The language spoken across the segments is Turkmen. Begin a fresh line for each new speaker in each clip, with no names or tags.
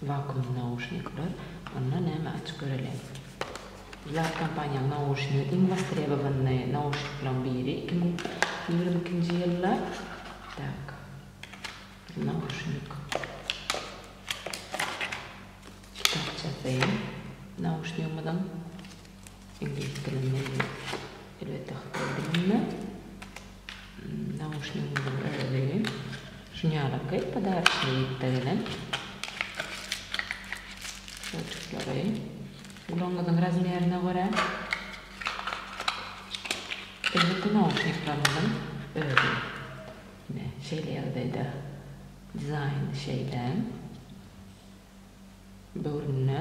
Wakuum nauşnikler onda näme aç göreli. Zlat kompaniýaň nauşnigi iň wostrebowanyny nauşnikleriň biri iki müň ýigrimi ikinji ýylda tak bir nauşnik kitapçasy nauşnigimiziň. Iňlis dilinde ýa-da elbetde hytaý dilinde nauşnigiňiziň özi şinýalaky podarçnyý ýüpde gelen şolçuklary gulagyňyzyň razmerine görä elbetde nauşnikleriňiziň özi ine şeýle ýagdaýda dizaýny şeýle. döwründe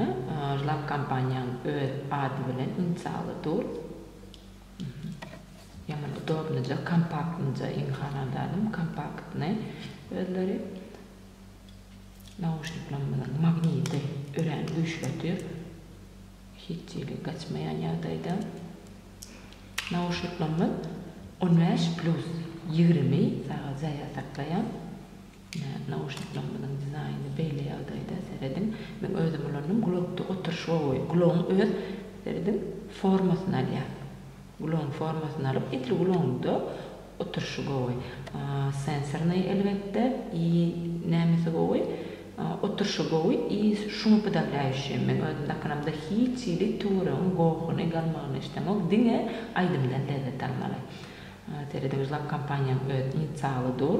Žlap kompaniýaň öz ady bilen inisialy dur. Ýaman udobnyja, kompaktnyja iň halan zadym kompaktny özleri. Nauşniklerimiziň magniti örän güýçli otyr. Hiç hili gaçmaýan ýagdaýda. Nauşniklerimiz on bäş plus ýigrimi sagat zarýad saklaýar. Nauşniklerimiziň dizaýny beýle ýagdaýda, serediň, men özüm ulandym, gulakda oturyş gowy, gulagyň öz, serediň, formasyny alýar. Gulagyň formasyny alyp, edil gulagyňda oturyşy gowy. Sensornyý, elbetde, i nämesi gowy, oturyşy gowy i şuňa pydaglaýuşim. Men özüm dakynamda hiç hili töweregiň gohuny, galmagyny islämok, diňe aýdymdan lezzet almaly. Serediň, zlap kompaniýaň öz inisialy dur.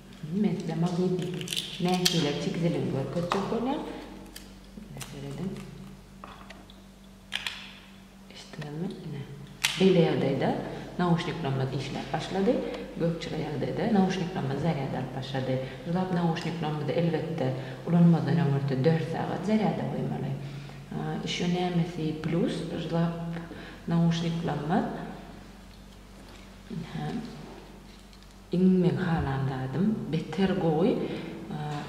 Meslama gidip nähili tikiziligini görkezjek bolýar. Seredin. Eşitdiňizmi? Ine. Beýle ýagdaýda nauşniklerimiz işläp başlady. Gökjile ýagdaýda nauşniklerimiz zarýad alyp başlady. Jylap nauşniklerimizi elbetde ulanmazdan öňürti dört sagat zarýada goýmaly. Ýşo nämesi plýus jylap nauşniklerimiz. Ine. Iň meň halan zadym beter gowy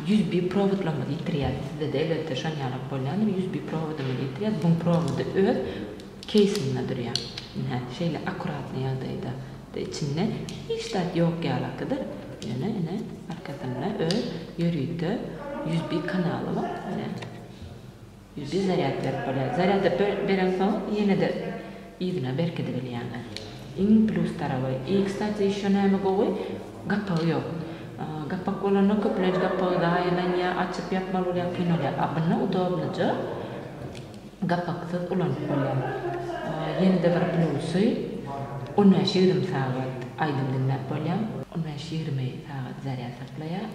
usb prowodlarymyzy ýitirýäs sizede elbetde şon ýalak bolýandyr usb prowodymyzy ýitirýäs buň prowody öz keýsinde durýa ynha şeýle akuratny ýagdaýda da içinde hiç zat ýok ýalakydyr ýöne ine arkasynda öz ýörite usb kanaly bar ine. Ýüzi zarýad berip bolýar. Zarýady bereňsoň ýene-de yzyna berkidibilýäňiz. Iň plýus taraby. I kstati ýeşo näme gowy, gapagy ýok. Gapak bolanda köplenç gapagy zaýalanýar, açyp ýapmaly bolýar, kyn bolýar. A bunda udobnyja gapaksyz ulanyp bolýar. Ýene-de bir plýusy on bäş-ýigrimi sagat aýdym diňläp bolýar. On bäş-ýigrimi sagat zarýad saklaýar.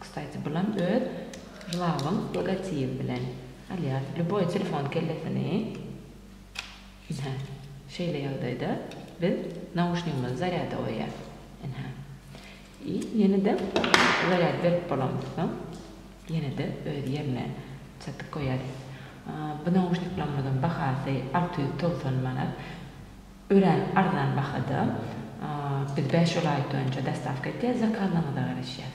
Kstaty bulam öz jlawyň logotibi bilen. Alýas lýuboý telefon kellesini ynha şeýle ýagdaýda biz nauşnigimizi zarýada goýýas ynha i ýene-de zarýad berip bolamyz soň ýene-de öz ýerine çatyp goýýas. Bu nauşniklarymyzyň bahasy alty ýüz togsan manat. Örän arzan bahada. Biz bäş olaýt önce dostawka etýäs, zakazyňyza garaşýas.